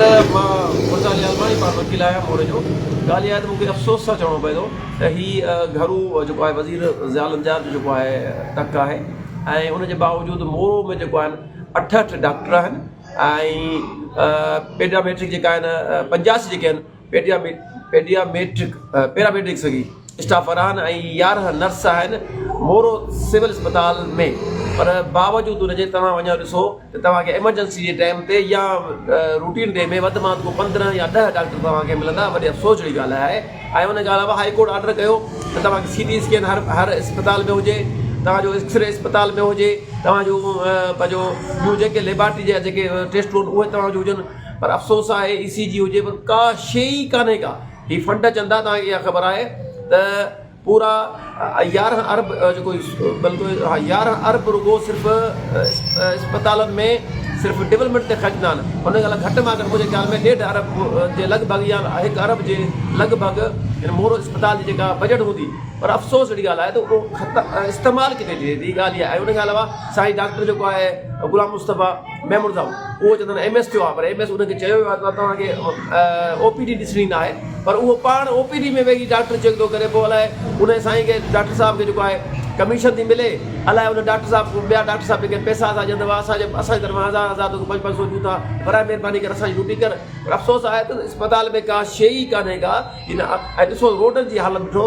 ته مان برطانيا الماني پار وڪيل آهيان مور جو ڳالهه اها آهي ته مون کي افسوس سان چوڻو پوي ٿو ته هي گهرو جيڪو آهي وزير ضياء لنجار جو جيڪو آهي ٽڪ آهي ۽ ان جي باوجود مور ۾ جيڪو آهن اٺهٺ ڊاڪٽر آهن ۽ پيڊيا ميٽرڪ جيڪا آهن پنجاسي جيڪي آهن پيڊياميٽرڪ پيراميڊڪ سگهي اسٽاف ورهاهن ۽ يارهن نرس آهن مورو سول اسپتال ۾ پر باوجود ان جي توهان وڃو ڏسو ته توهانکي ايمرجنسي جي ٽائيم تي يا روٽين ڊي ۾ وڌ مان وڌ پندرهن يا ڏهه ڊاڪٽر توهانکي ملندا وڏي افسوس جهڙي ڳالهه آهي ۽ ان کان علاوه هائي ڪورٽ آرڊر ڪيو ته توهانکي سي ٽي اسڪين هر هر اسپتال ۾ هجي توهانجو ايڪسري اسپتال ۾ هجي توهانجو پنهنجو ٻيون جيڪي ليبارٽري جا جيڪي ٽيسٽون اهي توهانجو هجن پر افسوس آهي اي سي جي هجي پر ڪا شي ئي ڪانهي ڪا هي فنڊ چندا توهان کي اها خبر آهي ته پورا يارهن ارب جيڪو بلڪل يارهن ارب رڳو صرف اسپتالن ۾ صرف ڊولپمينٽ تي خرچ ٿا هن ڳالهه گهٽ مان گهٽ منهنجي خيال ۾ ڏيڍ ارب جي لڳ ڀڳ يا هڪ ارب جي لڳ ڀڳ هن مورو اسپتال جي جيڪا بجيٽ هوندي پر افسوس اهڙي ڳالهه آهي ته اهو استعمال ڪٿي ٿئي ٿي ڳالهه اها آهي ان کان علاوه سائين ڊاڪٽر جيڪو آهي غلام مصطفيٰ محمود صاحب اهو چندن ايم ايس ٿيو آهي پر ايم ايس ان کي چيو ويو آهي ته توهان کي او پي ڊي ڏسڻي نه آهي پر اهو پاڻ او پي ڊي ۾ ويهي ڊاڪٽر چيڪ ٿو ڪري پوء الائي ان سائين کي ڊاڪٽر صاحب کي جيڪو آهي ڪميشن ٿي ملي الائي ان ڊاڪٽر صاحب کي ٻيا ڊاڪٽر صاحب جيڪي پيسا اسان ڏين ٿا اسان جي اسان جي طرفان هزار هزار پنج پنج سو ڏيون ٿا برائي مهرباني ڪري اسان جي ڊيوٽي ڪر پر افسوس آهي ته اسپتال ۾ ڪا شيء ئي ڪانهي ڪا ڏسو روڊن جي حالت ڏٺو